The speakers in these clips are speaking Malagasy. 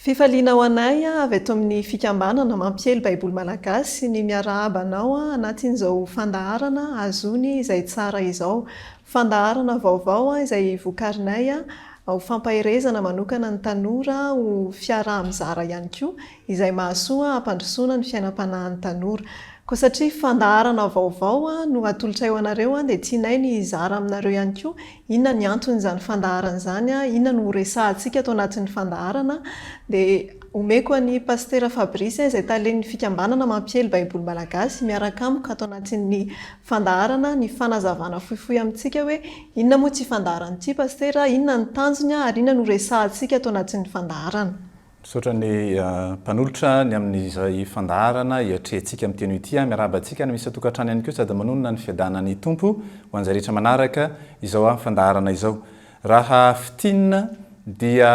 Fifaliana ho anay avy eto amin'ny Fikambanana Mampiely Baiboly Malagasy ny miarahaba anao anatin'izao fandaharana Azony izay Tsara izao. Fandaharana vaovao izay vokarinay ho fampaherezana manokana ny tanora ho fiaraha-mizara ihany koa izay mahasoa hampandrosoana ny fiainam-panahin'ny tanora. Koa satria fandaharana vaovao no atolotray ho anareo dia tianay ny hizara aminareo ihany koa Inona ny anton'izany fandaharana izany? Inona no horesahantsika ato anatin'ny fandaharana? Dia omeko an'i Pasitera Fabrice izay talen'ny fikambanana mampiely Baiboly malagasy miaraka amiko ato anatin'ny fandaharana ny fanazavana fohifohy amintsika hoe inona moa ity fandaharana ity Pasitera? Inona ny tanjony ary inona no horesahantsika ato anatin'ny fandaharana? Misaotra ny mpanolotra ny amin'izay fandaharana hiatrehantsika amin'ny teny ity. Miarahaba antsika ny misy an-tokantrano ihany koa sady manonona ny fiadanan'ny Tompo ho an'izay rehetra manaraka izao fandaharana izao. Raha fintinina dia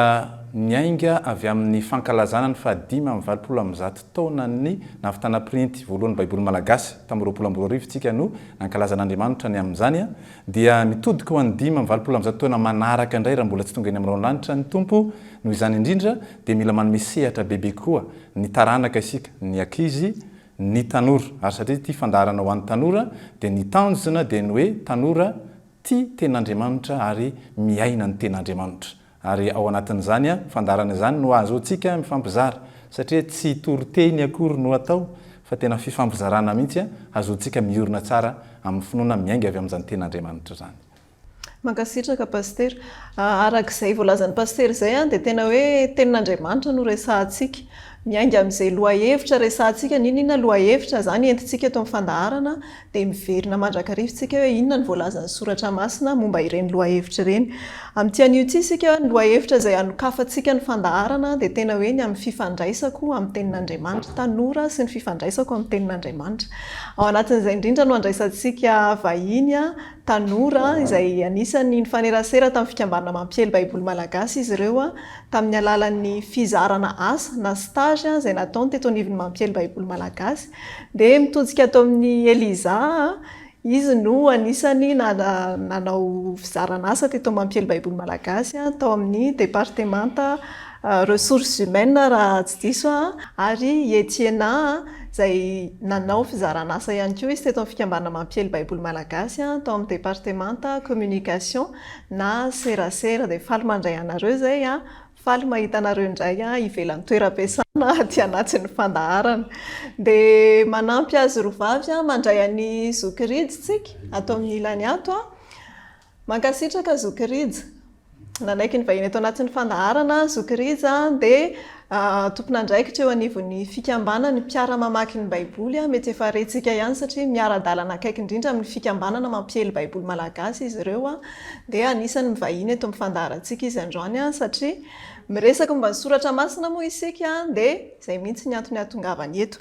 niainga avy amin'ny fankalazana ny fahadimy amby valopolo amby zato taonan'ny nahavitana printy voalohan'ny Baiboly malagasy. Tamin'ny roapolo amby roa arivo isika no nankalaza an'Andriamanitra ny amin'izany. Dia mitodika ho an'ny dimy amby valopolo amby zato taona manaraka indray raha mbola tsy tonga eny amin'ny rahonlanitra ny Tompo, noho izany indrindra dia mila manome sehatra bebe koa ny taranaka isika, ny ankizy, ny tanora, ary satria ity fandaharana ho an'ny tanora dia ny tanjona dia ny hoe tanora tia ten'Andriamanitra ary miaina ny ten'Andriamanitra. Ary ao anatin'izany fandaharana izany no ahazoantsika mifampizara, satria tsy toriteny akory no atao fa tena fifampizarana mihitsy ahazoantsika miorina tsara amin'ny finoana miainga avy amin'izany Tenin'Andriamanitra izany. Mankasitraka Pasitera. Araka izay voalazan'i Pasitera izay dia tena hoe Tenin'Andriamanitra no resahantsika. Miainga amin'izay lohahevitra resahantsika, na inona inona lohahevitra izany entintsika eto amin'ny fandaharana, dia miverina mandrakariva isika hoe inona no voalazan'ny soratra masina momba ireny lohahevitra ireny. Amin'ity anio ity isika, ny lohahevitra izay hanokafantsika ny fandaharana dia tena hoe ny amin'ny fifandraisako amin'ny Tenin'Andriamanitra, tanora sy ny fifandraisako amin'ny Tenin'Andriamanitra. Ao anatin'izay indrindra no handraisantsika vahiny tanora izay anisan'ny nifanerasera tamin'ny Fikambanana Mampiely Baiboly Malagasy izy ireo, tamin'ny alalan'ny fizarana asa na stage izay nataony teto anivon'ny Mampiely Baiboly Malagasy, dia mitodika ato amin'i Eliza aho. Izy no anisan'ny nanao fizarana asa teto amin'ny Mampiely Baiboly Malagasy, tao amin'ny departemanta Ressources Humaines raha tsy diso aho, ary i Etiena izay nanao fizarana asa ihany koa izy teto amin'ny Fikambanana Mampiely Baiboly Malagasy, tao amin'ny departemanta Communication. na serasera dia faly mandray anareo izay an! faly mahita anareo indray an! ivelan'ny toeram-piasana aty anatin'ny fandaharana! dia manampy azy roa vavy an! mandray an'i zoky Rija isika ato amin'ny ilany ato an! mankasitraka zoky Rija nanaiky ny vahiny ato anatin'ny fandaharana zoky Rija an! dia Tompon'andraikitra eo anivon'ny Fikambanana ny mpiara-mamaky ny Baiboly. Mety efa rentsika ihany satria miara-dalana akaiky indrindra amin'ny Fikambanana mampiely Baiboly malagasy izy ireo. Dia anisan'ny mivahiny eto amin'ny fandaharantsika izy androany satria miresaka momba ny soratra masina moa isika dia izay mihitsy ny antony hahatongavany eto.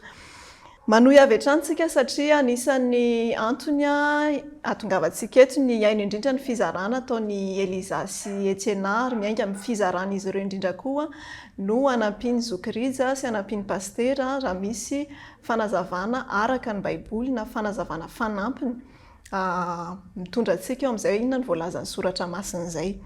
Manohy avy hatrany isika satria anisan'ny antony hahatongavantsika eto ny hihaino indrindra ny fizarana ataon'i Eliza sy Etiena ary miainga amin'ny fizaran'izy ireo indrindra koa no hanampian'ny zoky Rija sy hanampian'ny pasitera raha misy fanazavana araka ny baiboly na fanazavana fanampiny mitondra antsika eo amin'izay inona no voalazan'ny soratra masina izay.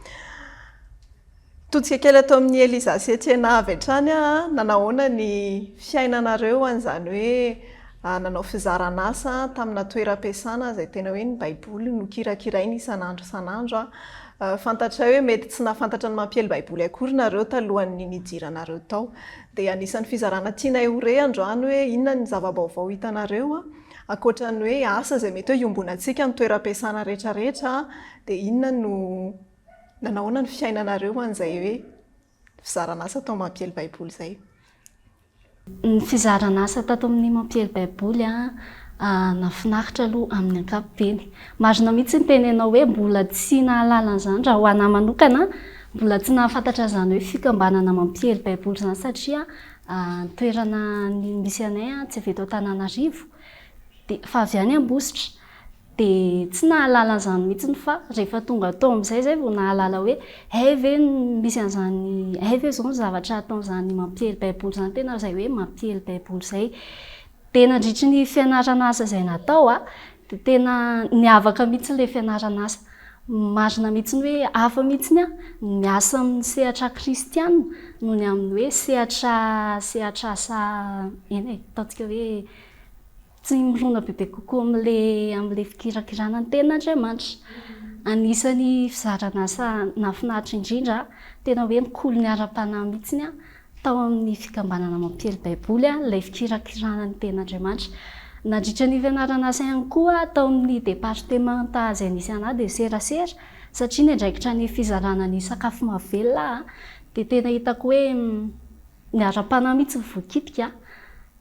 Todika kely ato amin'i Eliza sy Etiena avy hatrany aho a, nanahoana ny fiainanareo an'izany hoe nanao fizaran'asa tamina toeram-piasana izay tena hoe ny Baiboly no kirakiraina isan'andro isan'andro a. Fantatray hoe mety tsy nahafantatra ny mampiely Baiboly akory nareo talohan'ny nidiranareo tao. Dia anisan'ny fizarana tianay ho re androany hoe inona ny zava-baovao hitanareo a, ankoatra ny hoe asa izay mety hoe iombonantsika amin'ny toeram-piasana rehetrarehetra a, dia inona no Nanahoana ny fiainanareo ho an'izay hoe fizaran'asa tao Mampiely Baiboly izay? Ny fizaran'asa tato amin'ny Mampiely Baiboly, nahafinaritra aloha amin'ny ankapobeny. Marina mihitsy ny tenenao hoe mbola tsy nahalala an'izany raha ho ahy manokana, mbola tsy nahafantatra an'izany hoe fikambanana Mampiely Baiboly izany satria ny toerana misy anay tsy avy eto Antananarivo fa avy any Ambositra. Dia tsy nahalala an'izany mihitsy fa rehefa tonga tao amin'izay izay vao nahalala hoe hay ve misy an'izany, hay ve izao ny zavatra ataon'izany mampiely baiboly izany tena izay hoe mampiely baiboly izay. Dia nandritry ny fianaran'asa izay natao a, dia tena niavaka mihitsy ilay fianaran'asa. Marina mihitsy hoe hafa mihitsy ny miasa amin'ny sehatra kristiana noho ny amin'ny hoe sehatra sehatra asa eny e, ataontsika hoe Tsy mirona bebe kokoa amin'ilay amin'ilay fikirakirana ny teniny Andriamanitra. Anisan'ny fizaran'asa nahafinaritra indrindra, tena hoe mikolony ara-panahy mihitsy tao amin'ny Fikambanana Mampiely Baiboly ilay fikirakirana ny tenin' Andriamanitra. Nandritra ny fianaran'asa ihany koa tao amin'ny departemanta izay nisy anà dia serasera satria ny andraikitra ny fizarana ny sakafo mahavelona dia tena hitako hoe ny ara-panahy mihitsy no voakitika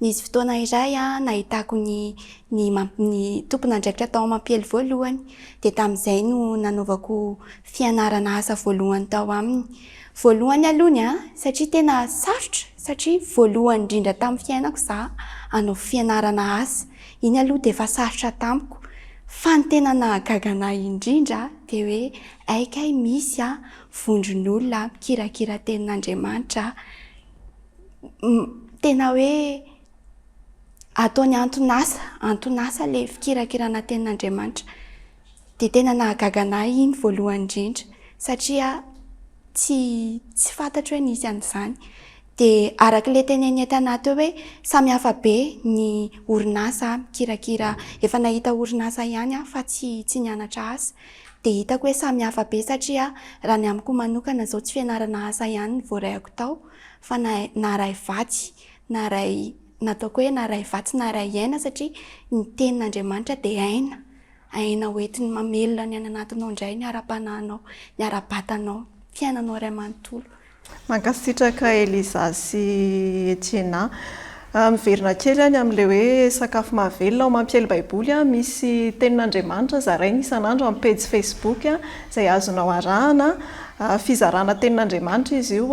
Nisy fotoana iray nahitako ny ny ny tompon'andraikitra tao Mampihely voalohany, dia tamin'izay no nanaovako fianarana asa voalohany tao aminy. Voalohany aloha ny ahy, satria tena sarotra, satria voalohany indrindra tamin'ny fiainako izaho hanao fianarana asa. Iny aloha dia efa sarotra tamiko. Fa ny tena nahagaga ana indrindra dia hoe hay kay misy vondron'olona mikirakira tenin'Andriamanitra. tena hoe ataony antonasa, antonasa ilay fikirakirana tenin'Andriamanitra. Dia tena nahagaga anah iny voalohany indrindra satria tsy tsy fantatro hoe nisy an'izany. Dia araka ilay teneniny tanahy teo hoe samy hafa be ny orinasa mikirakira, efa nahita orinasa ihany aho fa tsy tsy nianatra asa. Dia hitako hoe samy hafa be satria raha ny amiko manokana izao tsy fianarana asa ihany ny voaraiako tao fa na naharay vatsy naharay nataoko hoe naharay vatsy naharay aina satria ny tenin'Andriamanitra dia aina, aina hoentiny mamelona ny any anatinao indray ny ara-panahinao, ny ara-batanao, ny fiainanao iray manontolo. Mankasitraka Eliza sy Etiena. Miverina kely aho ny amin'ilay hoe sakafo mahavelona. Ao Mampiely Baiboly misy Tenin'Andriamanitra zaraina isan'andro amin'ny pejy Facebook izay azonao arahana. Fizarana Tenin'Andriamanitra izy io,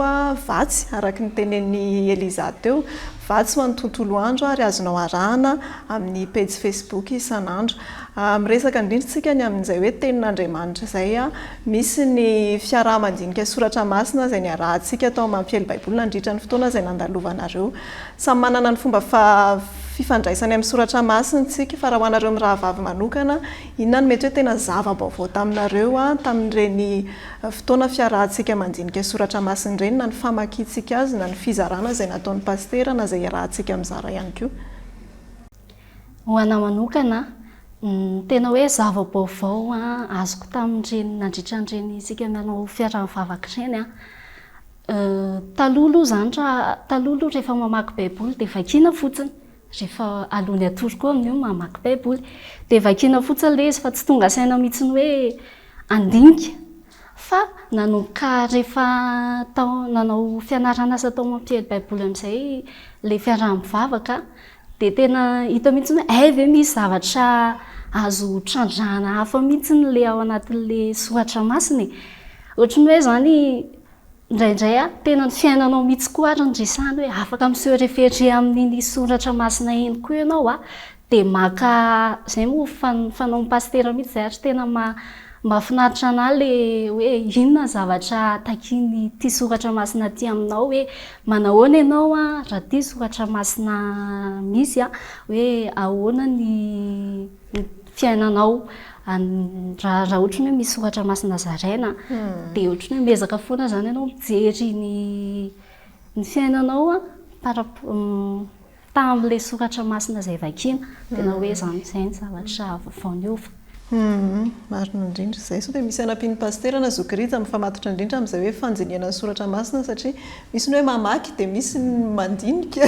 vatsy araka ny tenenin'i Eliza teo. Vatsy ho an'ny tontolo andro ary azonao arahana amin'ny pejy Facebook isan'andro. Miresaka indrindra isika ny amin'izay hoe Tenin'Andriamanitra izay. Misy ny fiaraha-mandinika soratra masina izay niarahantsika tao amin'ny mampiely Baiboly nandritra ny fotoana izay nandalovanareo. Samy manana ny fomba fifandraisany amin'ny soratra masina isika, fa raha ho anareo mirahavavy manokana, inona no mety hoe tena zava-baovao taminareo tamin'ireny fotoana fiarahantsika mandinika soratra masina ireny, na ny famakiantsika azy, na ny fizarana izay nataon'ny pasitera, na izay iarahantsika mizara ihany koa? Ho anah manokana, ny tena hoe zava-baovao azoko tamin'ireny nandritra an'ireny isika nanao fiaraha mivavaka ireny, taloha aloha izany raha, taloha aloha rehefa mamaky baiboly dia vakiana fotsiny, rehefa alohan'ny hatory koa amin'io ny mamaky baiboly. Dia vakiana fotsiny ilay izy fa tsy tonga saina mihitsy ny hoe handinika. Fa nanomboka rehefa tao nanao fianaran'asa tao amin'ny mpiely baiboly amin'izay ilay fiaraha-mivavaka Dia tena hita mihitsy hoe hay ve misy zavatra azo trandrahana hafa mihitsy ilay ao anatin'ilay soratra masina e. Ohatry ny hoe izany indraindray tena ny fiainanao mihitsy koa ary no resahana hoe afaka mi-se référer amin'iny soratra masina iny koa ianao a. Dia maka, izay moa ny fanaon'ny pasitera mihitsy izay ary tena mahafinaritra an'ahy ilay hoe inona ny zavatra takian'ity soratra masina ity aminao hoe Manahoana ianao raha tia soratra masina misy hoe ahoana ny fiainanao raha ohatry ny hoe misy soratra masina zaraina dia ohatry ny hoe miezaka foana izany ianao mijery ny fiainanao par rapport tamin'ilay soratra masina izay vakiana. Tena hoe izany, izay ny zavatra vaovao niova. Marina indrindra izay. Sao dia misy hanampian'ny Pasitera na Zoky Rija mifamatotra indrindra amin'izay hoe fandinihana ny soratra masina satria misy ny hoe mamaky dia misy ny mandinika.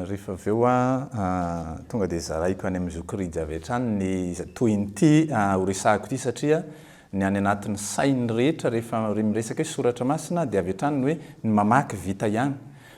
Rehefa avy eo aho tonga dia zaraiko any amin'i Zoky Rija avy hatrany ny tohin'ity horesahako ity satria ny any anatin'ny sain'ny rehetra rehefa miresaka hoe soratra masina dia avy hatrany ny hoe ny mamaky vita ihany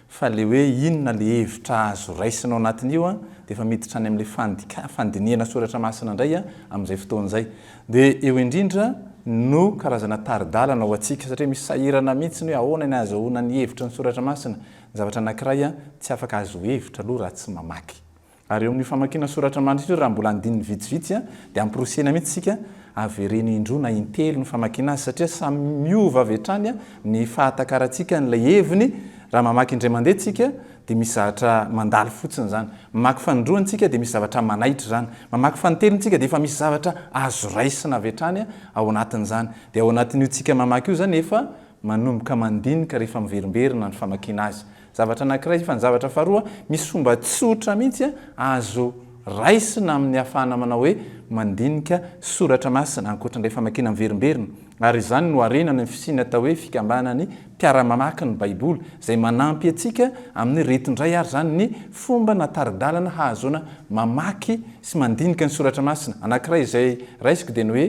Fa le hoe inona le hevitra azo raisina ao anatin'io an, de efa miditra any amin'ilay fandika, fandinihana soratra masina indray an, amin'izay fotoana izay. De eo indrindra no karazana tari-dalana ho antsika, satria misy sahirana mihitsy ny hoe ahoana ny ahazoana ny hevitra ny soratra masina, ny zavatra anankiray an, tsy afaka azo hevitra aloha raha tsy mamaky. Ary eo amin'ny famakiana soratra mandritra io, raha mbola andininy vitsivitsy, dia amporisiana mihitsy isika, avereno indroa na intelo ny famakiana azy, satria samy miova avy hatrany ny fahatakarantsika an'ilay heviny, raha mamaky indray mandeha isika dia misy zavatra mandalo fotsiny izany, mamaky fanindroany isika dia misy zavatra manaitra izany, mamaky fanintelony isika dia efa misy zavatra azo raisina avy hatrany ao anatin'izany. Dia ao anatin'io tsika mamaky io izany efa manomboka mandinika rehefa miverimberina ny famakiana azy. Zavatra anankiray izay fa ny zavatra faharoa, misy fomba tsotra mihitsy azo raisina amin'ny ahafahana manao hoe mandinika soratra masina ankoatran'ilay famakiana miverimberina ary izany no harena any amin'ny fisiany atao hoe fikambanan'ny mpiara-mamaky ny Baiboly izay manampy antsika amin'ny reto indray ary izany ny fomba na tari-dalana hahazoana mamaky sy mandinika ny soratra masina anankiray izay raisiko dia ny hoe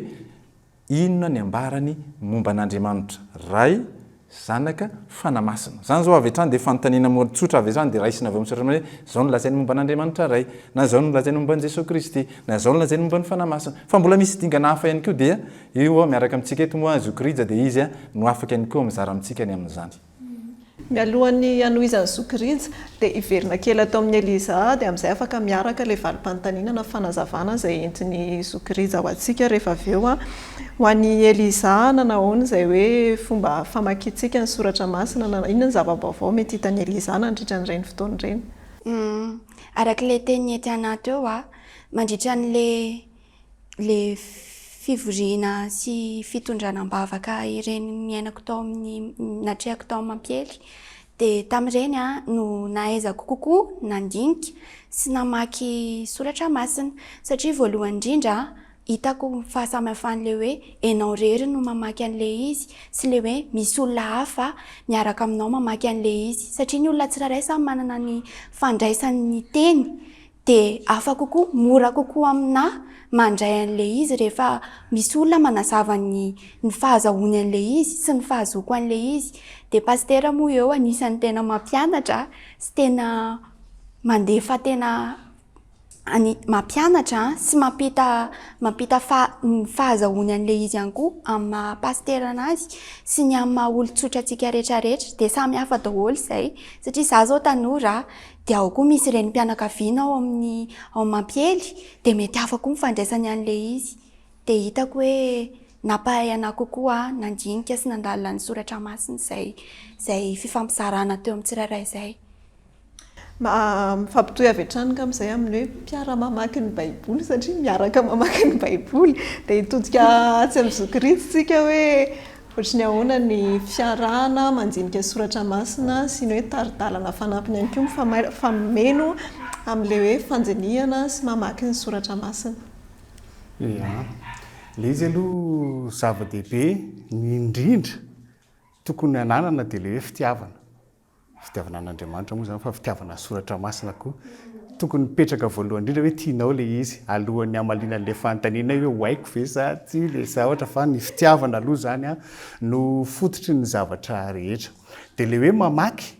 Inona ny ambarany momba an'Andriamanitra, Ray, Zanaka, Fanahy Masina? Izany izao avy hatrany dia fanontaniana morintsotra avy hatrany dia raisina avy ao amin'ny soratra masina hoe izao no lazainy momba an'Andriamanitra Ray, na izao no lazainy momba an'i Jesoa Kristy, na izao no lazainy momba ny Fanahy Masina. Fa mbola misy dingana hafa ihany koa dia io miaraka amintsika eto moa Zokiorija dia izy no afaka ihany koa mizara amintsika ny amin'izany. Mialohan'ny hanohizan'ny sokirija, dia hiverina kely ato amin'i Eliza aho, dia amin'izay afaka miaraka ilay valim-panontaniana na fanazavana izay entin'ny sokirija ho antsika rehefa avy eo. Ho an'i Eliza, nanao ahoana izay hoe fomba famakiantsika ny soratra masina? Na inona ny zava-baovao mety hitan'i Eliza nandritra an'ireny fotoana ireny? Araka ilay teny ety anaty eo, mandritra an'ilay. le fivoriana sy fitondrana am-bavaka ireny niainako tao amin'ny natrehako tao amin'ny mampiely dia tamin'ireny aho no nahaizako kokoa nandinika sy namaky soratra masina satria voalohany indrindra hitako ny fahasamihafan'ilay hoe ianao irery no mamaky an'ilay izy sy ilay hoe misy olona hafa miaraka aminao mamaky an'ilay izy satria ny olona tsirairay samy manana ny fandraisany ny teny Dia hafa kokoa, mora kokoa aminà mandray an'ilay izy rehefa misy olona manazava ny ny fahazahoany an'ilay izy sy ny fahazoako an'ilay izy. Dia pasitera moa eo anisan'ny tena mampianatra sy tena mandefa tena any mampianatra sy mampita mampita faha- ny fahazahoany an'ilay izy ihany koa amin'ny maha pasitera anazy sy ny amin'ny maha olon-tsotra antsika rehetrarehetra. Dia samy hafa daholo izay. Satria izaho izao tanora, Dia ao koa misy renim-pianakaviana ao amin'ny ao amin'ny mampiely dia mety hafa koa ny fandraisany an'ilay izy. Dia hitako hoe nampahay anà kokoa aho nandinika sy nandalina ny soratra masina izay izay fifampizarana teo amin'ny tsirairay izay. Mifampitohy avy hatrany angamba izay amin'ny hoe mpiara-mamaky ny Baiboly satria miaraka mamaky ny Baiboly. Dia hitodika atsy amin'ny zokiritsy isika hoe. Ohatry ny ahoana ny fiarahana mandinika soratra masina sy ny hoe tari-dalana fanampiny ihany koa mifamay fa meno amin'ilay hoe fandinihana sy mamaky ny soratra masina? Ia, ilay izy aloha zava-dehibe indrindra tokony hananana dia ilay hoe fitiavana. Fitiavana an'Andriamanitra moa izany fa fitiavana soratra masina koa. Tokony mipetraka voalohany indrindra hoe tianao ilay izy alohan'ny hamaliana an'ilay fanontaniana hoe ho haiko ve sa tsia ilay zavatra fa ny fitiavana aloha izany no fototry ny zavatra rehetra. Dia ilay hoe mamaky,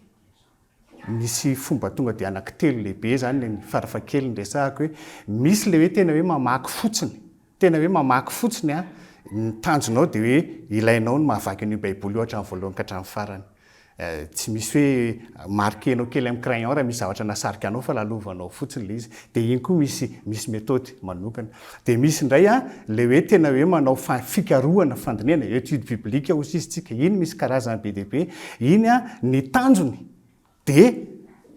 misy fomba tonga dia anankitelo lehibe izany, ny farafahakeliny resahako hoe misy ilay hoe tena hoe mamaky fotsiny, Tena hoe mamaky fotsiny an! Ny tanjonao dia hoe ilainao ny mahavaky an'io baiboly io hatramin'ny voalohany ka hatramin'ny farany. Tsy misy hoe marquer-nao kely amin'ny crayon raha misy zavatra nahasarika anao fa lalovanao fotsiny ilay izy. Dia iny koa misy misy methode manokana. Dia misy indray an, ilay hoe tena hoe manao fa fikarohana, fandinihana, étude biblique hozy izy tsika. Iny misy karazany be dia be. Iny an, ny tanjony dia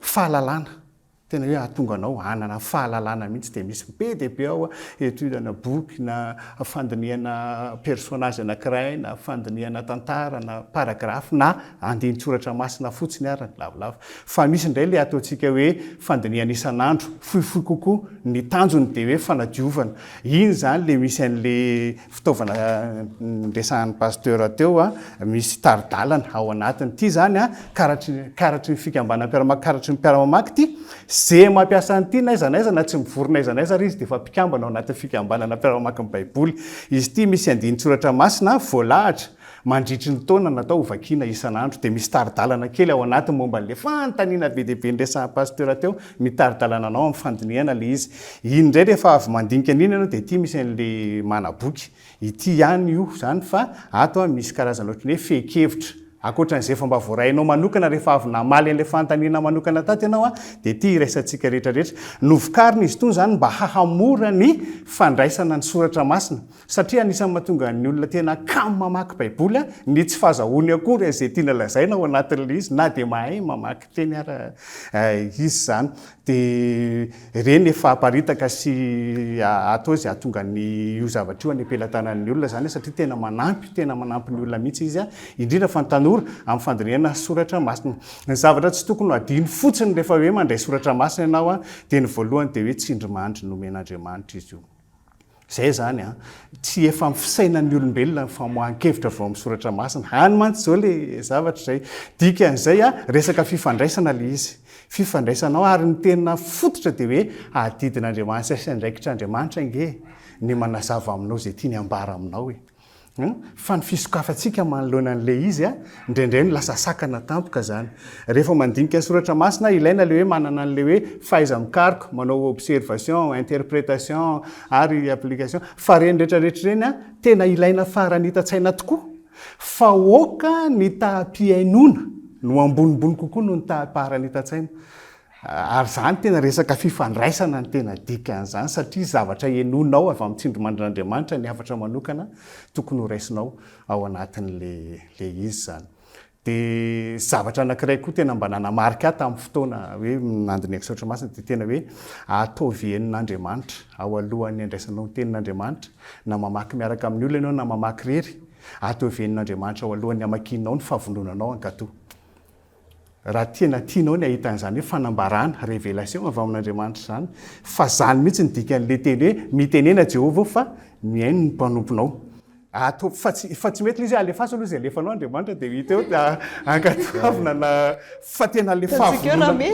fahalalana. Tena hoe hahatonga anao hanana fahalalana mihitsy dia misy be dia be ao, étude ana boky na fandinihana personnage anankiray na fandinihana tantara na paragraphe na andinin-tsoratra masina fotsiny ary ny lavolava. Fa misy indray ilay ataontsika hoe fandinihana isan'andro, fohifohy kokoa, ny tanjony dia hoe fanadiovana. Iny izany ilay misy an'ilay fitaovana niresahan'ny Pasteur teo, misy tari-dalana ao anatiny. Ity izany karatry karatry ny fikambanam-piara-maka, karatry ny mpiara-mamaky ity. Ze mampiasa an'ity n'aiza n'aiza na tsy mivory n'aiza n'aiza ary izy dia efa mpikambana ao anatin'ny fikambanana mpiara-mamaky ny Baiboly. Izy ity misy andinin-tsoratra masina voalahatra. Mandritry ny taona natao hovakiana isan'andro dia misy tari-dalana kely ao anatiny momba an'ilay fanontaniana be dia be niresahan'ny pasitera teo, ny tari-dalana anao amin'ny fandinihana ilay izy. Iny indray rehefa avy mandinika an'iny ianao dia ity misy an'ilay manaboky, ity ihany io izany fa ato misy karazana ohatry ny hoe fehin-kevitra ankoatra an'izay efa mba voarainao manokana rehefa avy namaly an'ilay fanontaniana manokana tato ianao dia ity iraisantsika rehetra rehetra. Novokarina izy itony izany mba hahamora ny fandraisana ny soratra masina. Satria anisan'ny mahatonga ny olona tena kamo mamaky Baiboly ny tsy fahazahoany akory an'izay tiana lazaina ao anatin'ilay izy, na dia mahay mamaky teny ara izy izany. Dia ireny efa aparitaka sy atao izay hahatonga an'io zavatra io any am-pelatanan'ny olona izany, satria tena manampy, tena manampy ny olona mihitsy izy, indrindra fa ny tanora amin'ny fandinihana soratra masina. Ny zavatra tsy tokony ho adino fotsiny rehefa hoe mandray soratra masina ianao dia ny voalohany dia hoe tsindrimandry nomen'Andriamanitra izy io. Izay izany an! Tsy efa amin'ny fisainan'ny olombelona ny famoahan-kevitra avy ao amin'ny soratra masina. Any mantsy izao ilay zavatra izay. Dikan'izay an, resaka fifandraisana ilay izy. Fifandraisana ao ary ny tena fototra dia hoe adidin'Andriamanitra sy andraikitr'Andriamanitra ange ny manazava aminao izay tiany ambara aminao e. Fa ny fisokafantsika manoloana an'ilay izy, indraindray no lasa sakana tampoka izany. Rehefa mandinika ny soratra masina, ilaina ilay hoe manana an'ilay hoe fahaiza-mikaroka, manao observation, interpretation ary application. Fa ireny rehetra rehetra ireny, tena ilaina farany hitan-tsaina tokoa. Fa aoka ny taham-pihainoana no ambonimbony kokoa noho ny taham-paharanitan-tsaina. Ary izany tena resaka fifandraisana no tena dikan'izany satria zavatra henoinao avy amin'ny tsindrimandrin'Andriamanitra ny hafatra manokana tokony ho raisinao ao anatin'ilay izy izany. Dia zavatra anankiray koa tena mba nanamarika ahy tamin'ny fotoana hoe nandinihako soratra masina dia tena hoe ataovy henon'Andriamanitra ao alohan'ny handraisanao ny tenin'Andriamanitra na mamaky miaraka amin'ny olona ianao na mamaky irery, ataovy henon'Andriamanitra ao alohan'ny hamakianao ny fahavononanao hankatò. Raha tena tianao ny hahita an'izany hoe fanambarana, révélation, avy amin'Andriamanitra izany, fa izany mihitsy ny dikan'ilay teny hoe mitenena Jehovah aho fa mihaino ny mpanomponao. Ataovy fa tsy, fa tsy mety ilay izy hoe alefaso aloha izay alefanao Andriamanitra dia ho hita eo, dia ankatoavina na, fa tena ilay fahavononana,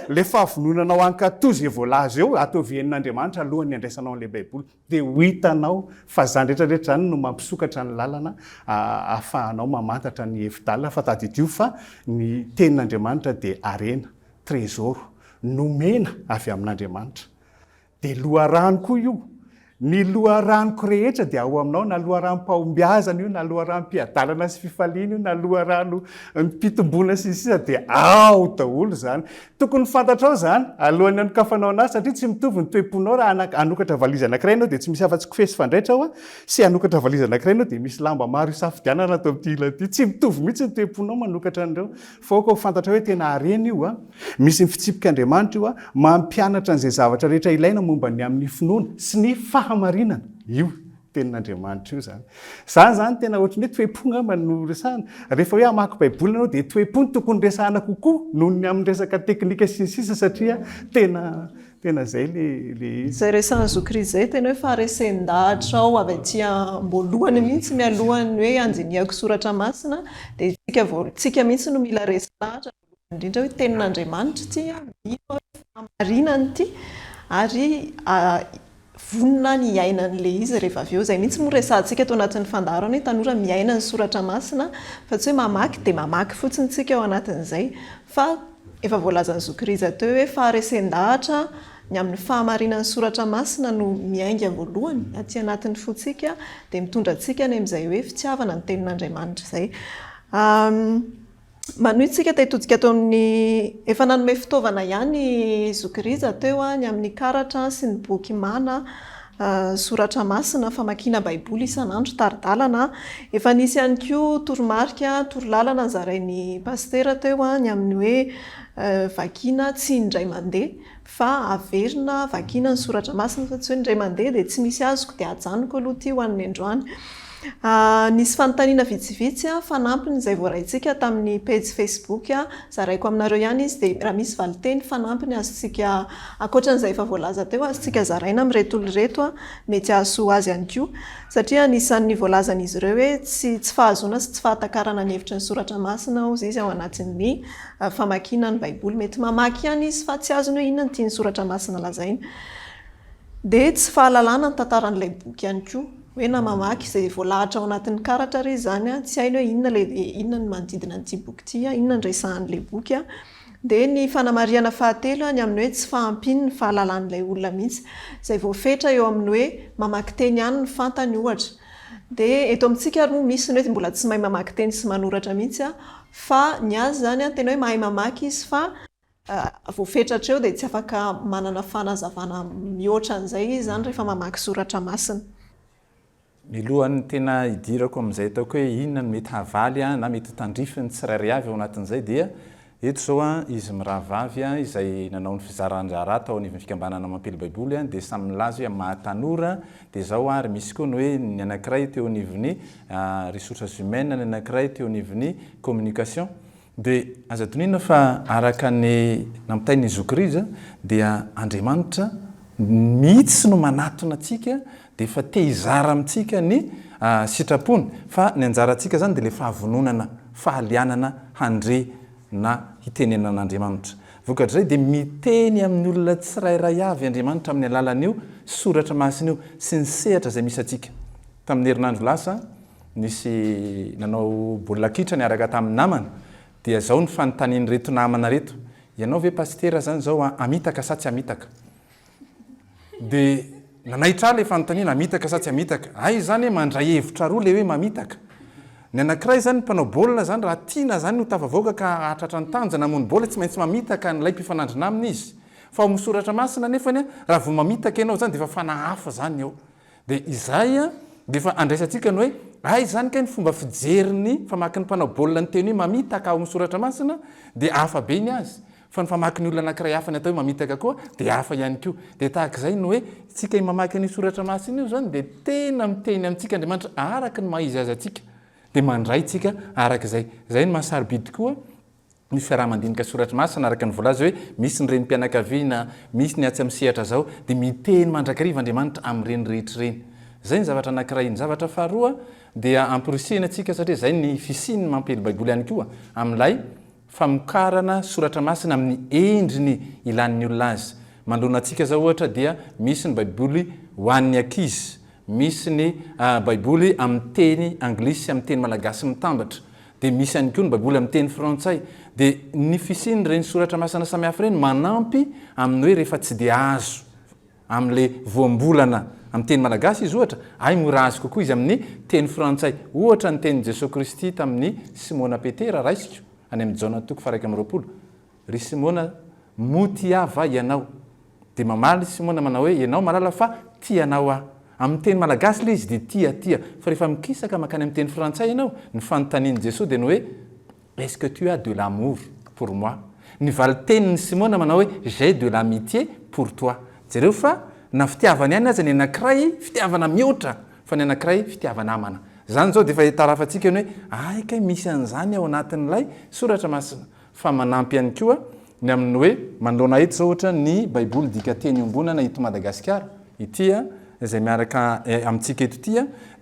ilay fahavononanao hankatò izay voalaza eo, ataovy henon'Andriamanitra alohan'ny handraisanao an'ilay Baiboly. Dia ho hitanao fa izany rehetrarehetra izany no mampisokatra ny lalana ahafahanao mamantatra ny hevi-dalina, fa tadidio fa ny tenin'Andriamanitra dia harena, trezoro, nomena avy amin'Andriamanitra. Dia loharano koa io. Ny loharanoko rehetra dia ao aminao, na loharanom-pahombiazana io, na loharanom-piadalana sy fifaliana io, na loharanom-pitomboana sy ny sisa dia ao daholo izany. Tokony ho fantatrao izany alohan'ny hanokafanao an'asa satria tsy mitovy ny toe-ponao raha hanokatra valizy anankiray ianao dia tsy misy afa-tsy kofehy sy fandraitra hoa sy hanokatra valizy anankiray ianao dia misy lamba maro hisafidianana ato amin'ity ilany ity. Tsy mitovy mihitsy ny toe-ponao manokatra an'ireo fa aoka ho fantatrao hoe tena harena io a! Misy ny fitsipik'Andriamanitra io a! Mampianatra an'izay zavatra rehetra ilaina momba ny amin'ny finoana sy ny fahamarinana io. Tenin'Andriamanitra io izany. Izaho izany tena ohatry ny hoe toe-po angamba no resahana. Rehefa hoe hamaky Baiboly ianao dia toe-po no tokony resahana kokoa noho ny amin'ny resaka teknika sy ny sisa satria tena tena izay le le izy. Izay resahan'i Zokiri izay tena hoe faharesen-dahatra ao avy aty am-boalohany mihitsy mialohan'ny hoe handinihako soratra masina dia isika vao isika mihitsy no mila resy lahatra. voalohany indrindra hoe tenin'Andriamanitra ity, mino aho hoe fahamarinana ity ary vonona aho ny hiaina an'ilay izy rehefa avy eo. Izay mihitsy moa resahantsika tao anatin'ny fandaharana hoe tanora miaina ny soratra masina fa tsy hoe mamaky dia mamaky fotsiny isika ao anatin'izay fa efa voalazan'ny zoky rija teo hoe faharesen-dahatra ny amin'ny fahamarinan'ny soratra masina no miainga voalohany aty anatin'ny fontsika dia mitondra antsika any amin'izay hoe fitiavana ny tenin'Andriamanitra izay. Manohy tsika te hitodika teo amin'ny Efa nanome fitaovana ihany i Zoky Rija teo an, ny amin'ny karatra sy ny boky Mana, Soratra Masina, famakiana Baiboly isan'andro, tari-dalana an. Efa nisy ihany koa toromarika, torolalana nozarain'ny Pasitera teo an, ny amin'ny hoe vakiana tsy indray mandeha. fa averina vakiana ny soratra masina fa tsy hoe indray mandeha dia tsy misy azoko dia ajanoko aloha ity ho an'ny androany. Nisy fanontaniana vitsivitsy fanampiny izay voaraintsika tamin'ny pejy Facebook, zaraiko aminareo ihany izy dia raha misy valinteny fanampiny azontsika, ankoatra an'izay efa voalaza teo, azontsika zaraina amin'ireto olona ireto, mety hahasoa azy ihany koa. Satria anisan'ny voalazan'izy ireo hoe tsy tsy fahazoana sy tsy fahatakarana ny hevitry ny soratra masina hozy izy ao anatin'ny. famakiana ny Baiboly. Mety mamaky ihany izy fa tsy azony hoe inona ny tian'ny Soratra Masina lazaina. Dia tsy fahalalana ny tantaran'ilay boky ihany koa. Hoe na mamaky izay voalahatra ao anatin'ny karatra ary izy izany, tsy hainy hoe inona ilay, inona ny manodidina an'ity boky ity, inona no resahan'ilay boky. Dia ny fanamarihana fahatelo, ny amin'ny hoe tsy fahampian'ny fahalalan'ilay olona mihitsy. Izay voafetra eo amin'ny hoe mamaky teny ihany no fantany, ohatra. Dia eto amintsika ary moa misy ny hoe mbola tsy mahay mamaky teny sy manoratra mihitsy, Fa ny azy izany an, tena hoe mahay mamaky izy fa vao fetratra eo dia tsy afaka manana fanazavana mihoatra an'izay izy izany rehefa mamaky soratra masina. Milohan'ny tena hidirako amin'izay ataoko hoe inona no mety havaly an, na mety ho tandrify ny tsirairay avy ao anatin'izay dia eto izao an, izy mirahavavy an, izay nanao ny fizaran-draharaha tao anivon'ny fikambanana mampily baiboly an, dia samy milaza hoe amin'ny maha tanora Dia zao ary misy koa ny hoe ny anankiray teo anivon'ny ressources humaines, ny anankiray teo anivon'ny communication. Dia aza adinonina fa araka ny nampitain'i Zokirijsa dia Andriamanitra mihitsy no manatona antsika dia efa te hizara amintsika ny sitrapony fa ny anjarantsika zany dia ilay fahavononana, fahalianana handre na hiteny an'Andriamanitra. Vokatr'izay dia miteny amin'ny olona tsirairay avy Andriamanitra amin'ny alalan'io soratra masina io sy ny sehatra izay misy antsika. Tamin'ny herinandro lasa, nisy nanao baolina kitra niaraka tamin'ny namana, dia izao ny fanontanian'ireto namana ireto, Ianao ve pasitera izany izao hamitaka sa tsy hamitaka? Dia nanaitra ahy ilay fanontaniana, hamitaka sa tsy hamitaka? Hay izany hoe mandray hevitra roa ilay hoe mamitaka. Ny anankiray izany ny mpanao baolina izany raha tiana izany ho tafavoaka ka hahatratra ny tanjona hamono baolina tsy maintsy mamitaka an'ilay mpifanandrina aminy izy. Fa ao amin'ny soratra masina anefany raha vao mamitaka ianao izany dia efa fanahy hafa izany ao. Dia izay dia efa andraisantsika ny hoe hay izany kay ny fomba fijerin'ny famakin'ny mpanao baolina ny teny hoe mamitaka ao amin'ny soratra masina dia hafa be ny azy. Fa ny famaky ny olona anankiray hafa ny atao hoe mamitaka koa dia hafa ihany koa. Dia tahaka izay ny hoe isika mamaky an'io soratra masina io izany dia tena miteny amintsika Andriamanitra araka ny maha-izy azy antsika. Dia mandray isika araka izay. Izay no maha sarobidy koa ny fiaraha-mandinika soratra masina araka ny voalaza hoe misy ny renim-pianakaviana, misy ny atsy amin'ny sehatra izao. Dia miteny mandrakariva Andriamanitra amin'ireny rehetra ireny. Izay ny zavatra anankiray. Ny zavatra faharoa dia amporisihina antsika satria izay ny fisian'ny mampiely Baiboly ihany koa amin'ilay famokarana soratra masina amin'ny endriny ilàn'ny olona azy. Manoloana antsika izao, ohatra, dia misy ny Baiboly ho an'ny ankizy, misy ny Baiboly amin'ny teny anglisy sy amin'ny teny malagasy mitambatra, dia misy ihany koa ny Baiboly amin'ny teny frantsay. Dia ny fisian'ireny soratra masina samihafa ireny manampy amin'ny hoe rehefa tsy dia azo amin'ilay voambolana amin'ny teny malagasy izy, ohatra, ay moa raha azy kokoa izy amin'ny teny frantsay, ohatra ny tenin'i Jesoa Kristy tamin'i Simona Petera, raisiko, any amin'ny Jaona toko faha-iraika amby roapolo, Ry Simona, moa tia Ahy va ianao? Dia mamaly i Simona manao hoe, Ianao mahalala fa tia Anao Aho. Amin'ny teny malagasy ilay izy dia tia, tia, fa rehefa mikisaka mankany amin'ny teny frantsay ianao, ny fanontanian'i Jesoa dia ny hoe, Est-ce que tu as de l'amour pour moi? Ny valin-tenin'i Simona manao hoe J'ai de l'amitié pour toi. Jereo fa na fitiavana ihany aza ny anankiray, fitiavana mihoatra, fa ny anankiray fitiava-namana. Izany izao dia efa itarafantsika ny hoe hay kay misy an'izany ao anatin'ilay soratra masina. Fa manampy ihany koa ny amin'ny hoe manoloana eto izao ohatra ny Baiboly Dika Teny Iombonana eto Madagasikara ity izay miaraka amintsika eto ity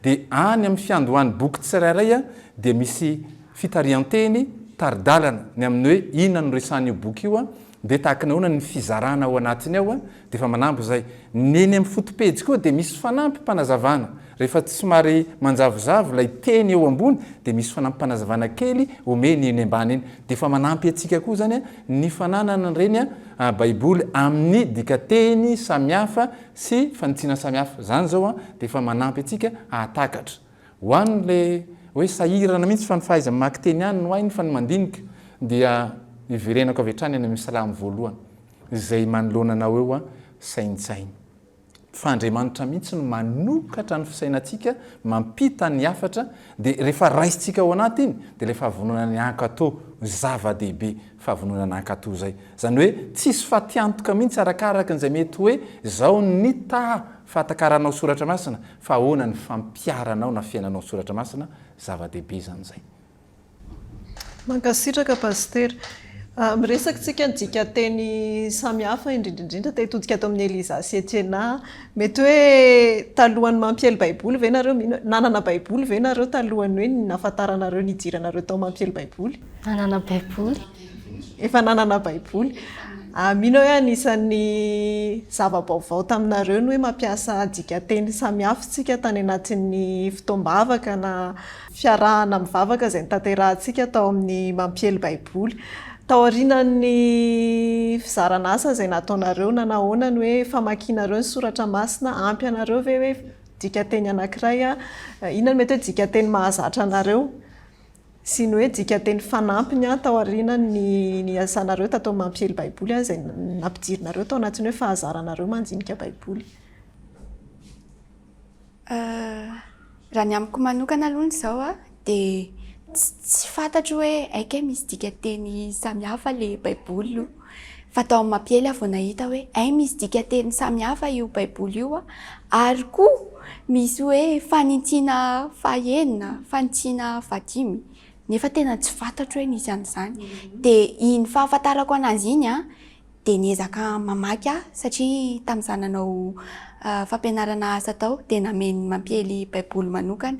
dia any amin'ny fiandohan'ny boky tsirairay dia misy fitarihan-teny, tari-dalana, ny amin'ny hoe inona no resahan'io boky io, dia tahaka ny ahoana ny fizarana ao anatiny ao, dia efa manampy izay. Ny eny amin'ny fotopejy koa dia misy fanampim-panazavana, rehefa somary manjavozavo ilay teny eo ambony dia misy fanampim-panazavana kely omeny eny ambany eny, dia efa manampy antsika koa izany ny fananana an'ireny baiboly amin'ny dikanteny samihafa sy fanitsiana samihafa, izany izao dia efa manampy antsika hahatakatra. Ho an le hoe sahirana mihitsy fa ny fahaiza mamaky teny ihany no hainy fa ny mandinika dia iverenako avy hatrany any amin'ny salamo voalohany izay manoloana anao eo a, saintsaino fa Andriamanitra mihitsy no manokatra ny fisainantsika mampita ny hafatra dia rehefa raisintsika ao anaty iny dia ilay fahavononany hankato zava dehibe fahavononany hankato zay izany hoe tsisy fatiantoka mihitsy arakaraky izay mety hoe izao ny taha fahatakaranao soratra masina Fa ahoana ny fampiharanao na fiainanao ny soratra masina? Zava-dehibe izany izay. Mankasitraka Pasitera. Miresaka tsika dikanteny samy hafa indrindra indrindra te hitodika ato amin'ny Eliza sy Etiena. Mety hoe talohan'ny mampiely baiboly ve nareo mino hoe nanana baiboly ve nareo talohan'ny hoe nahafantaranareo nidiranareo tao mampiely baiboly? Nanana baiboly. Efa nanana baiboly. Ah, mino aho hoe anisan'ny zava-baovao taminareo ny hoe mampiasa dikanteny samihafa isika tany anatin'ny fotoam-bavaka na fiarahana mivavaka izay notanterahintsika tao amin'ny mampiely baiboly. Taorianan'ny fizarana asa izay nataonareo na nahoana ny hoe famakianareo ny soratra masina, ampy anareo ve hoe dikanteny anankiray, inona no mety hoe dikanteny mahazatra anareo? sy ny hoe dikanteny fanampiny taoriana ny niasanareo tato amin'ny mampiely Baiboly, izay nampidirinareo tao anatin'ny hoe fahazaranareo mandinika Baiboly. Raha ny amiko manokana aloha izao dia tsy fantatro hoe hay kay misy dikanteny samihafa ilay Baiboly aloha. Fa tao amin'ny mampiely aho vao nahita hoe hay misy dikateny samy hafa io Baiboly io a! Ary koa misy hoe fanintsiana fahenina, fanintsiana fahadimy. Nefa tena tsy fantatro hoe nisy an'izany. Dia iny fahafantarako an'azy iny a, dia niezaka mamaky aho satria tamin'izaho nanao fampianarana asa tao dia namen'ny mampiely Baiboly manokana.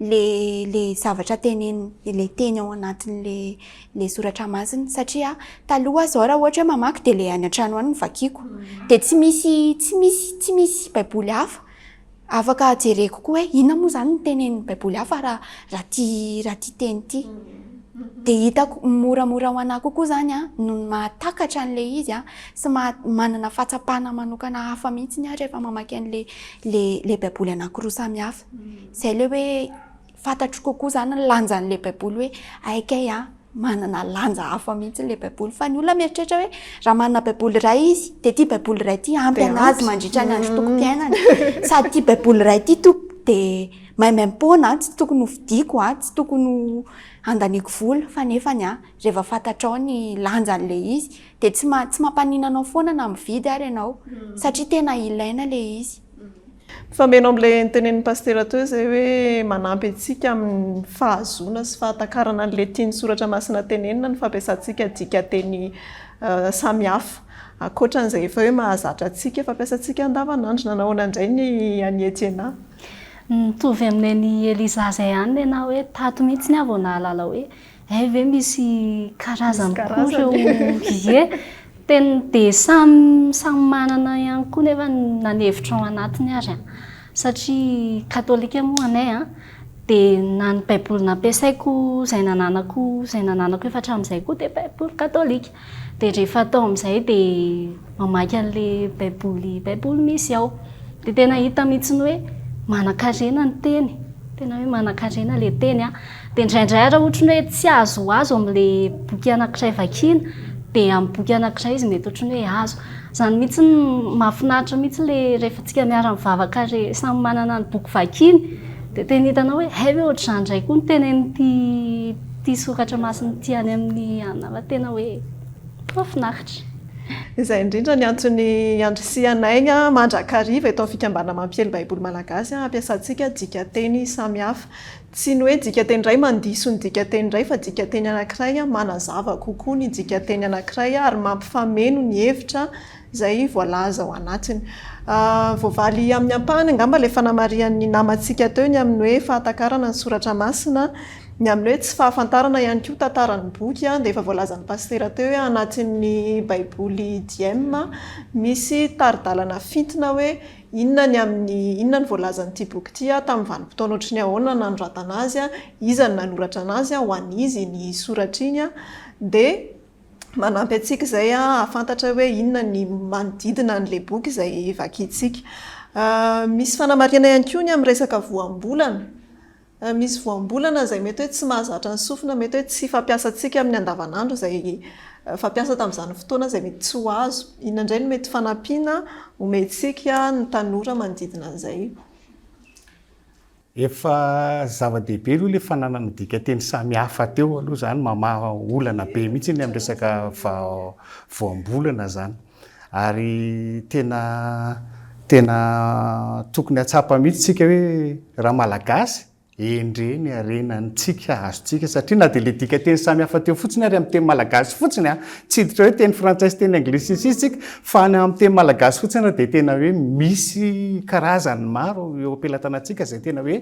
le le zavatra teneniny, ilay teny ao anatin'le le soratra masina satria taloha aho zao raha ohatra hoe mamaky de le any an-trano any no vakiako de tsy misy tsy misy tsy misy baiboly hafa afaka jereko koa hoe inona moa zany ny tenenin'ny baiboly hafa raha raha ty raha ty teny ty de hitako moramora ho anah kokoa zany a noho ny mahatakatra an'le izy a sy maha- manana fahatsapana manokana hafa mihitsiny aho rehefa mamaky an'le le le baiboly anankiroa samy hafa Izay ilay hoe fantatro kokoa izany ny lanjan'ilay Baiboly hoe hay kay an, manana lanja hafa mihitsy ilay Baiboly. Fa ny olona mieritreritra hoe raha manana Baiboly iray izy, dia ity Baiboly iray ity ampy Dia an'azy ampy. mandritra ny androm-pokom-piainany. Sady ity Baiboly iray ity to- dia maimaim-poana an, tsy tokony ho fidiko an, tsy tokony ho handaniako vola. Fa nefany an, rehefa fantatrao ny lanjan'ilay izy, dia tsy ma- tsy mampaninona anao foana na mividy ary ianao, satria tena ilaina ilay izy. Mifameno amin'ilay notenenin'i Pasitera teo izay hoe manampy antsika amin'ny fahazoana sy fahatakarana ny letrin'ny soratra masina tenenina ny fampiasantsika dikanteny samihafa. Ankoatra an'izay efa hoe mahazatra antsika, fampiasantsika andavanandro. Nanao ahoana indray ny an'i Etiena? Mitovy amin'ny an'i Eliza izay ihany ny anà hoe tato mihitsy aho vao nahalala hoe Hay ve misy karazany koa ireo ie? Tena dia samy samy manana ihany koa nefa na ny hevitra ao anatiny ary an! satria katolika moa anay an! dia na ny baiboly nampiasaiko izay nananako izay nananako efa hatramin'izay koa dia baiboly katolika, dia rehefa atao amin'izay dia mamaky an'ilay baiboly baiboly misy ao dia tena hita mihitsy ny hoe manankarena ny teny tena hoe manankarena ilay teny an dia indraindray ary ohatra ny hoe tsy azo ho azo amin'ilay boky anankiray vakiana dia amin'ny boky anankiray izy mety ohatra ny hoe azo izany mihitsy no mahafinaritra mihitsy ilay rehefa tsika miara mivavaka re samy manana ny boky vakiany dia tena hitanao hoe hay ve ohatr'izany indray koa ny tenenin'ity Ity soratra masina ity any amin'ny anarana tena hoe mahafinaritra. Izay indrindra ny antony handrisihanay ny mandrakariva eto amin'ny Fikambanana Mampiely Baiboly Malagasy hampiasantsika dikanteny samihafa. Tsy ny hoe dikanteny iray mandiso ny dikanteny iray fa dikanteny anankiray manazava kokoa ny dikanteny anankiray ary mampifameno ny hevitra izay voalaza ao anatiny. Voavaly amin'ny ampahany angamba ilay fanamarihan'ny namantsika teo ny amin'ny hoe fahatakarana ny soratra masina, ny amin'ny hoe tsy fahafantarana ihany koa tantara ny boky dia efa voalazan'ny pasitera teo hoe anatin'ny baiboly Diem misy tari-dalana fintina hoe inona ny amin'ny inona ny voalazan'ity boky ity, tamin'ny vanim-potoana ohatry ny ahoana ny nanoratana azy, iza no nanoratra anazy, ho an'iza iny soratra iny dia manampy antsika izay hahafantatra hoe inona ny manodidina an'ilay boky izay vakintsika. Misy fanamarihana ihany koa ny amin'ny resaka voambolana. Misy voambolana izay mety hoe tsy mahazatra ny sofina, mety hoe tsy fampiasantsika amin'ny andavanandro izay fampiasa tamin'izany fotoana izay mety tsy ho azo. Inona indray no mety ho fanampiana omentsika ny tanora manodidina an'izay? Efa zava-dehibe aloha ilay fananana dikanteny samihafa teo aloha izany, mamaha olana be mihitsy ny amin'ny resaka voambolana izany. Ary tena tena tokony hahatsapa mihitsy isika hoe raha malagasy, endrey ny harena antsika azontsika satria na dia ilay dikanteny samihafa teo fotsiny ary amin'ny teny malagasy fotsiny an, tsy hiditra hoe teny frantsay sy teny anglisy sy ny sisa isika, Fa any amin'ny teny malagasy fotsiny ary dia tena hoe misy karazany maro eo am-pelatanantsika izay tena hoe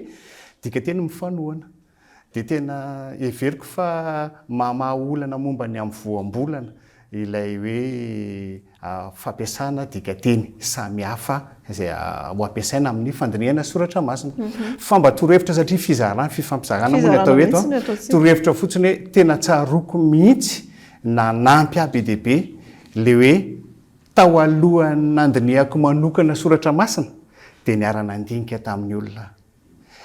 dikanteny mifanohana. Dia tena heveriko fa mahamaha olana momba ny amin'ny voambolana ilay hoe fampiasana dikanteny samihafa izay ho ampiasaina amin'ny fandinihana soratra masina. Fa mba torohevitra satria fizarana, fifampizarana moa ny atao eto an. Torohevitra fotsiny hoe tena tsaroako mihitsy Nanampy ahy be dia be ilay hoe tao alohan'ny nandinihako manokana soratra masina dia niara-nandinika tamin'ny olona aho.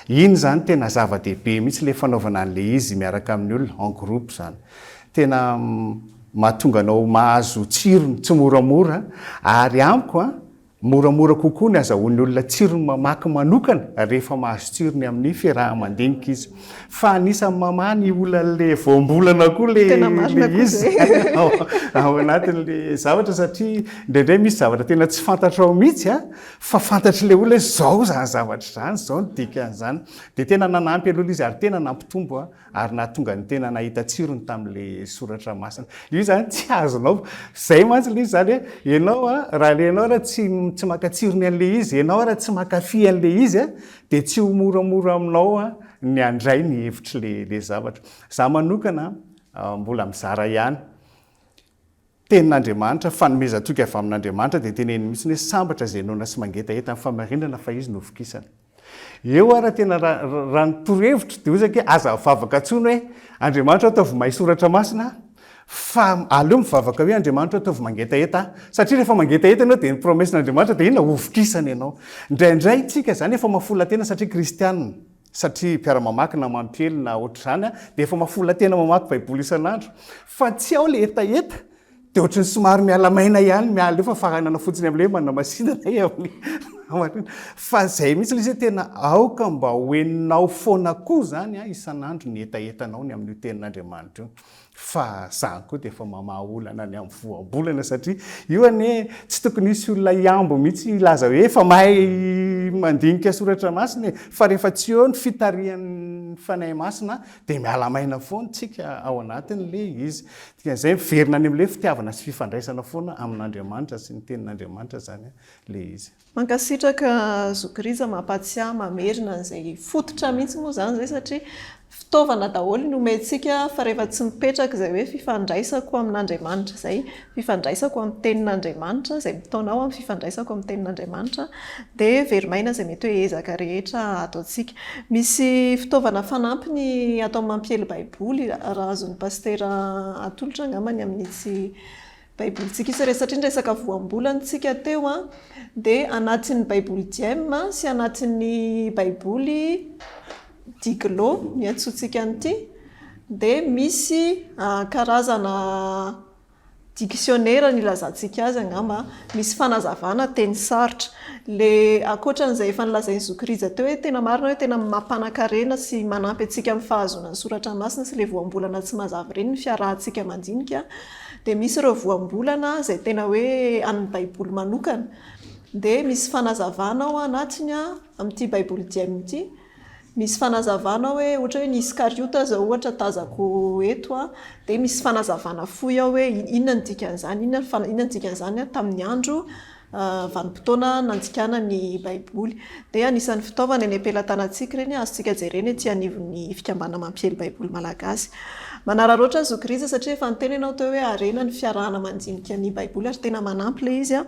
Iny izany tena zava-dehibe mihitsy ilay fanaovana an'ilay izy miaraka amin'ny olona, en groupe izany. Tena mahatonga anao mahazo tsirony tsimoramora ary amiko Moramora kokoa ny azahoan'ny olona tsirony mamaky manokana rehefa mahazo tsirony amin'ny fiaraha-mandinika izy. Fa anisan'ny mamaha ny olan'ilay voambolana koa ilay izy ao anatin'ilay zavatra satria indraindray misy zavatra tena tsy fantatrao mihitsy fa fantatr'ilay olona hoe izao izany zavatra izany, izao ny dikan'izany. Dia tena nanampy an'olona izy ary tena nampitombo aho. ary nahatonga ny tena nahita tsirony tamin'ilay soratra masina. Io izany tsy azonao. Izay mantsy ilay izy izany hoe ianao a, raha ilay ianao raha tsy tsy maka tsirony an'ilay izy, ianao raha tsy mankafy an'ilay izy a, dia tsy ho moramora aminao a ny handray ny hevitr'ilay ilay zavatra. Izaho manokana mbola mizara ihany. Tenin'Andriamanitra, fanomezan-toky avy amin'Andriamanitra, dia teneniny mihitsy hoe sambatra izay noana sy mangetaheta ny fahamarinana fa izy no vokisana. Eo ary tena raha ny torohevitro dia hozy ange aza mivavaka intsony hoe Andriamanitra ataovy mahay soratra masina aho fa aleo mivavaka hoe Andriamanitra ataovy mangetaheta aho satria rehefa mangetaheta ianao dia ny promessin'Andriamanitra dia inona hovokisana ianao. Indraindray tsika izany efa maha-folon-tena satria kristianina. satria mpiara-mamaky na mampiely na ohatr'izany an, dia efa mafola tena mamaky baiboly isan'andro, fa tsy ao ilay hetaheta, dia ohatran'ny somary miala maina ihany, miala eo fa faranana fotsiny amin'ilay hoe manamasinana e amin'ny namariana, fa izay mihitsy ilay izy hoe tena aoka mba ho henonao foana koa izany an, isan'andro ny hetahetanao ny amin'io tenin'Andriamanitra io. fa za koa dia efa mamaha olana ny amin'ny voambolana satria io anie tsy tokony hisy olona hihambo mihitsy hilaza hoe efa mahay mandinika soratra masina e fa rehefa tsy eo ny fitarihan'ny fanahy masina dia miala maina foana tsika ao anatiny le izy dikan'izay miverina any amin'le fitiavana sy fifandraisana foana amin'Andriamanitra sy ny tenin'Andriamanitra zany le izy Mankasitraka zoky Rija mampatsiahy mamerina an'izay fototra mihitsy moa izany izay satria fitaovana daholo ny omentsika fa rehefa tsy mipetraka izay hoe fifandraisako amin'Andriamanitra izay, fifandraisako amin'ny tenin'Andriamanitra, izay mitaona aho amin'ny fifandraisako amin'ny tenin'Andriamanitra dia very maina izay mety hoe ezaka rehetra ataontsika. Misy fitaovana fanampiny atao amin'ny mampiely baiboly raha azon'ny pasitera atolotra angamba ny amin'itsy Baibolintsika izy ireny satria niresaka voambolana isika teo a, dia anatin'ny Baiboly Diem sy anatin'ny Baiboly Diglo no iantsoantsika an'ity, dia misy karazana diksionera no ilazantsika azy angamba a, misy fanazavana teny sarotra. Ilay ankoatra an'izay efa nolazain'i zoky Rija teo hoe tena marina hoe tena mampanankarena sy manampy antsika amin'ny fahazoana ny soratra masina sy ilay voambolana tsy mazava ireny ny fiarahantsika mandinika, Dia misy ireo voambolana izay tena hoe an'ny Baiboly manokana. Dia misy fanazavana ao anatiny amin'ity Baiboly Dia Mino ity. Misy fanazavana hoe ohatra hoe ny Iskariota izao ohatra tazako eto a, dia misy fanazavana fohy ao hoe inona no dikan'izany, inona ny dikan'izany tamin'ny andro. Vanim-potoana nanjikana ny Baiboly, dia anisan'ny fitaovana eny am-pelatanantsika ireny azontsika jerena ety anivon'ny Fikambanana Mampiely Baiboly Malagasy. Manararaotra ny zo krizy satria efa niteny ianao teo hoe harena ny fiarahana mandinika ny Baiboly ary tena manampy ilay izy.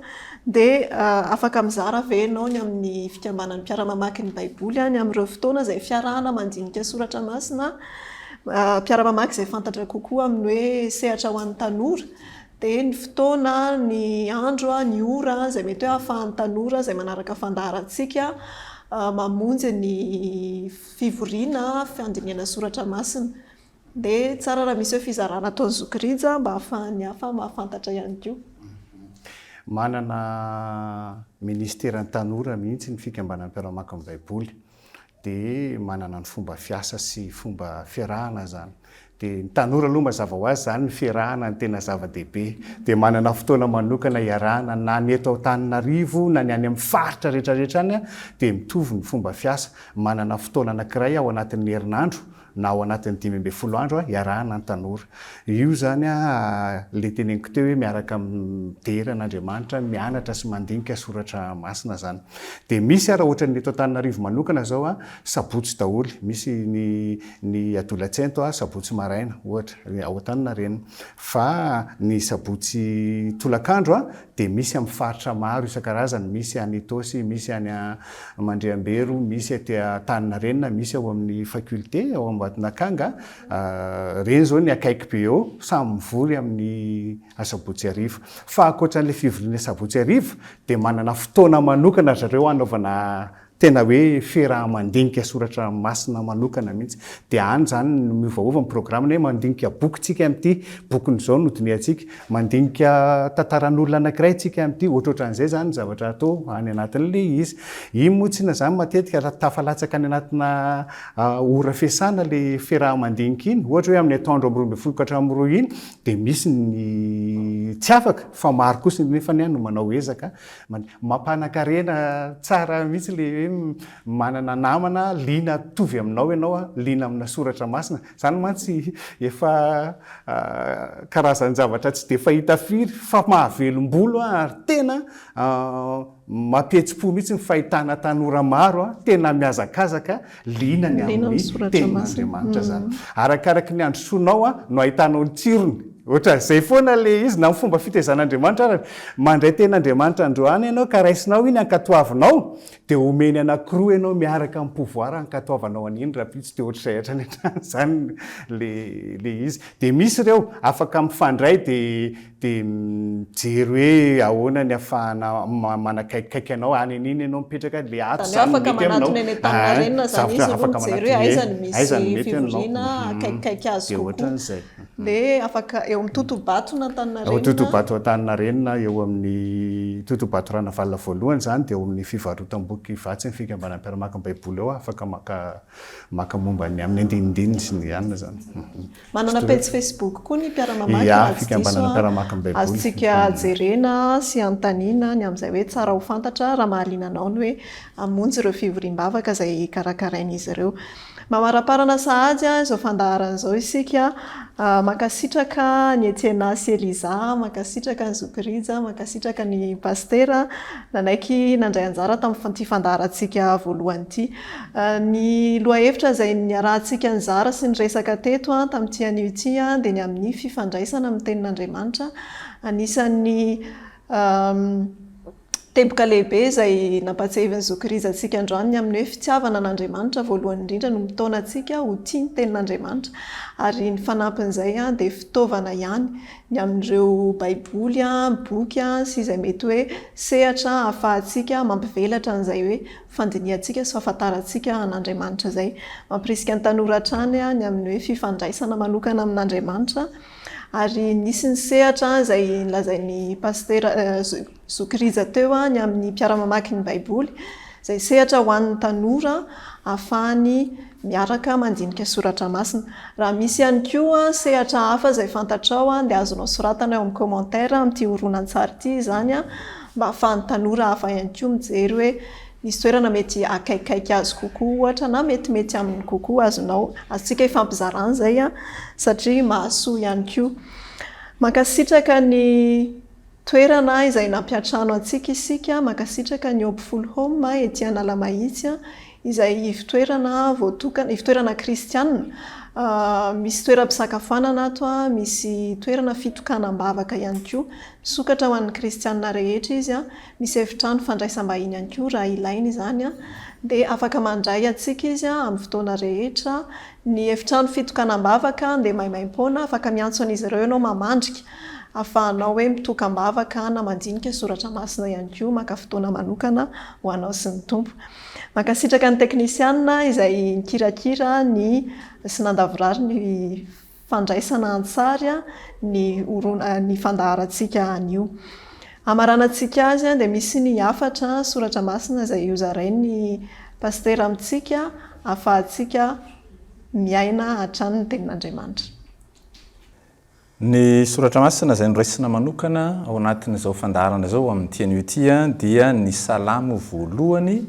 Dia afaka mizara ve ianao ny amin'ny fikambanan'ny mpiara-mamaky ny Baiboly any amin'ireo fotoana izay fiarahana mandinika soratra masina, mpiara-mamaky izay fantatra kokoa amin'ny hoe sehatra ho an'ny tanora? dia ny fotoana, ny andro, ny ora izay mety hoe ahafahan'ny tanora izay manaraka fandaharantsika mamonjy ny fivoriana fandinihana soratra masina. Dia tsara raha misy hoe fizarana ataon'ny zoky rija mba ahafahan'ny hafa mahafantatra ihany koa. Manana Ministeran'ny Tanora mihitsy ny Fikambanam-piaraha-maka ny Baiboly. dia manana ny fomba fiasa sy fomba fiarahana zany dia ny tanora aloha mazava ho azy zany ny fiarahana ny tena zava-dehibe dia manana fotoana manokana hiarahana na ny eto Antananarivo na ny any amin'ny faritra rehetra rehetra any dia mitovy ny fomba fiasa manana fotoana anakiray ao anatin'ny herinandro na ao anatin'ny dimy ambin'ny folo andro hiarahana ny tanora. Io izany ilay teneniko teo hoe miaraka midera an'Andriamanitra, mianatra sy mandinika soratra masina izany. Dia misy ary ohatran'ny eto Antananarivo manokana izao sabotsy daholo, misy ny ny adolatsento sabotsy maraina ohatra, ao Antaninarenina. Fa ny sabotsy tolakandro dia misy amin'ny faritra maro isan-karazany, misy any Itaosy, misy any Mandriambero, misy aty Antaninarenina, misy ao amin'ny faculté, ao Ambatonakanga, ireny izao ny akaiky be eo, samy mivory amin'ny asabotsy hariva. Fa ankoatran'ilay fivoriana asabotsy hariva dia manana fotoana manokana zareo hanaovana Tena hoe fiaraha-mandinika soratra masina manokana mihitsy. Dia any izany no miovaova ny programme na hoe mandinika boky isika amin'ity bokiny izao no dinihantsika, mandinika tantaran'olona anankiray isika amin'ity, ohatrohatran'izay izany ny zavatra atao any anatin'ilay izy. Iny moa tsinona izany matetika raha tafalatsaka any anatina ora fiasana ilay fiaraha-mandinika iny, ohatra hoe amin'ny atoandro amin'ny roa ambin'ny folo ka hatramin'ny roa iny dia misy ny tsy afaka fa maro kosa nefa ny ahy no manao ezaka Mampanan-karena tsara mihitsy ilay hoe manana namana liana mitovy aminao ianao, liana amina soratra masina. Izany mantsy efa karazan-javatra tsy dia fahita firy fa mahavelom-bolo ary tena mampihetsi-po mihitsy ny fahitana tanora maro tena mihazakazaka Liana ny amin'ny tenin'Andriamanitra izany. Arakaraka ny handrosoanao no ahitanao ny tsirony. Ohatran'izay foana ilay izy na ny fomba fitaizan'Andriamanitra arany. Mandray tenin'Andriamanitra androany ianao ka raisinao iny ankatoavinao dia omeny anankiroa ianao miaraka amin'ny pouvoir ankatoavanao an'iny rahampitso dia ohatr'izay hatrany hatrany izany ilay izy. Dia misy ireo afaka mifandray dia Dia mijery hoe ahoana ny afahana manakaikikaiky anao, any an'iny ianao mipetraka, dia ato izany no mety aminao. Izany hoe afaka manatona eny an-taninarenina izany izy aloha mijery hoe aiza no misy fivoriana akaikikaiky azy kokoa. Dia ohatran'izay. Dia afaka eo amin'ny totohabato na Antaninarenina. Eo totohabato Antaninarenina, eo amin'ny totohabato Ranavalona voalohany izany, dia eo amin'ny fivarotam-boky Ivatsy ny fikambanam-mpiara-maka ny Baiboly ao aho afaka maka momba ny amin'ny andinindininy sy ny anona izany. Manana pejy Facebook koa ny mpiara-mamaky raha tsy diso aho. Azontsika jerena sy anontaniana ny amin'izay hoe tsara ho fantatra raha mahaliana anao ny hoe hamonjy ireo fivoriam-bavaka izay karakarain'izy ireo. Mamaramparana sahady izao fandaharana izao isika. Mankasitraka an'i Etiena sy Eliza, mankasitraka an'i Zoky Rija, mankasitraka an'i Pasitera nanaiky nandray anjara tamin'ity fandaharantsika voalohany ity. Ny lohahevitra izay niarahantsika nizara sy niresaka teto tamin'ity anio ity dia ny amin'ny fifandraisana amin'ny Tenin'Andriamanitra. Anisan'ny teboka lehibe izay nampahatsiahivin'ny zokirizy antsika androany ny amin'ny hoe fitiavana an'Andriamanitra voalohany indrindra no mitaona antsika ho tia ny Tenin'Andriamanitra. Ary ny fanampin'izay dia fitaovana ihany ny amin'ireo Baiboly, boky sy izay mety hoe sehatra ahafahantsika mampivelatra an'izay hoe fandinihantsika sy fahafantarantsika an'Andriamanitra izay. Mampirisika ny tanora hatrany ny amin'ny hoe fifandraisana manokana amin'Andriamanitra. Ary nisy ny sehatra izay nolazain'ny pasitera zoky Rija teo ny amin'ny mpiara-mamaky ny Baiboly, izay sehatra ho an'ny tanora ahafahany miaraka mandinika soratra masina. Raha misy ihany koa sehatra hafa izay fantatrao dia azonao soratana eo amin'ny commentaire amin'ity horonantsary ity izany mba hahafahan'ny tanora hafa ihany koa mijery hoe misy toerana mety akaikikaiky azy kokoa ohatra na metimety aminy kokoa azonao, azontsika ifampizarana izay satria mahasoa ihany koa. Mankasitraka ny. Toerana izay nampiantrano antsika isika, mankasitraka ny Hope Full Home ety Analamahitsy izay ivotoerana voatokana, ivotoerana kristianina, misy toeram-pisakafoanana ato, misy toerana fitokanam-bavaka ihany koa. Misokatra ho an'ny kristianina rehetra izy, misy efitrano fandraisam-bahiny ihany koa raha ilaina izany, dia afaka mandray antsika izy amin'ny fotoana rehetra Ny efitrano fitokanam-bavaka dia maimaim-poana, afaka miantso an'izy ireo ianao mamandrika. Ahafahanao hoe mitoka am-bavaka na mandinika soratra masina ihany koa maka fotoana manokana ho anao sy ny Tompo. Mankasitraka ny teknisianina izay nikirakira ny sy nandavorary ny fandraisana an-tsary ny ny fandaharantsika anio. Hamaranantsika azy dia misy ny hafatra soratra masina izay hozarain'ny Pasitera amintsika ahafahantsika miaina hatrany ny tenin'Andriamanitra. Ny soratra masina izay noraisina manokana ao anatin'izao fandaharana izao amin'ny teny Hutti dia ny Salamo voalohany,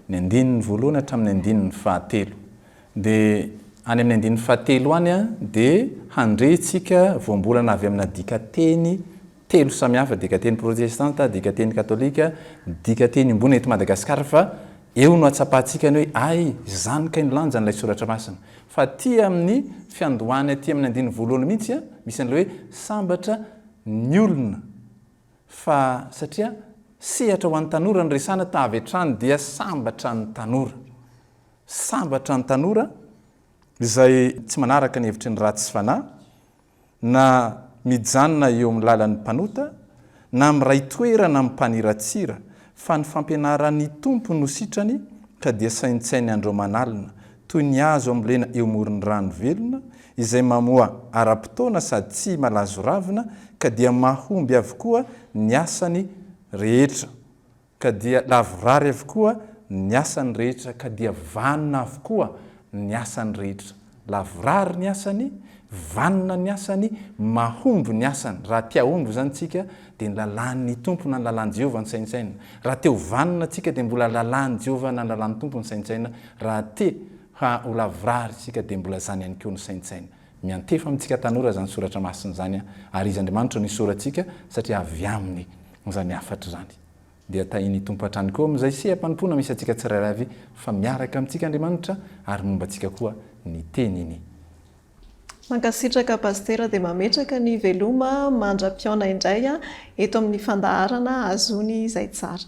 ny andininy voalohany hatramin'ny andininy fahatelo. Dia any amin'ny andininy fahatelo any dia handre tsika voambolana avy amina dikateny telo samihafa, dikateny protestanta, dikateny katolika, dikateny iombonana eto Madagasikara fa eo no atsapahantsika ny hoe ay izany kay ny lanjan'ilay soratra masina. Fa aty amin'ny fiandohany aty amin'ny andininy voalohany mihitsy misy an'ilay hoe sambatra ny olona fa satria sehatra ho an'ny tanora no resahana ta avy hatrany dia sambatra ny tanora. Sambatra ny tanora izay tsy manaraka ny hevitry ny ratsy fanahy na mijanona eo amin'ny lalan'ny mpanota, na miray toerana amin'ny mpaniratsira, fa ny fampianaran'ny Tompo no sitrany ka dia saintsainy andro aman'alina, toy ny hazo ambolena eo amoron'ny rano velona, izay mamoa ara-potoana sady tsy malazo ravina, ka dia mahomby avokoa ny asany rehetra. Ka dia lavorary avokoa ny asany rehetra, ka dia vanona avokoa ny asany rehetra. Lavorary ny asany, vanona ny asany, mahomby ny asany. Raha te hahomby izany isika, dia ny lalàn'ny Tompo na ny lalàn'i Jehovah no saintsainina. Raha te ho vanona isika, dia mbola lalàn'i Jehovah na ny lalàn'ny Tompo no saintsainina. Raha te ho lavorary isika, dia mbola izany ihany koa no saintsainina. Miantefa amintsika tanora izany soratra masina izany, ary izy Andriamanitra no isaorantsika, satria avy aminy Izany hafatra izany dia tahin'ny Tompo hatrany koa amin'izay seha-panompoana misy antsika tsirairay avy fa miaraka amintsika Andriamanitra ary momba antsika koa ny Teniny. Mankasitraka Pasitera dia mametraka ny veloma mandra-pihaona indray eto amin'ny fandaharana ahazoany izay tsara.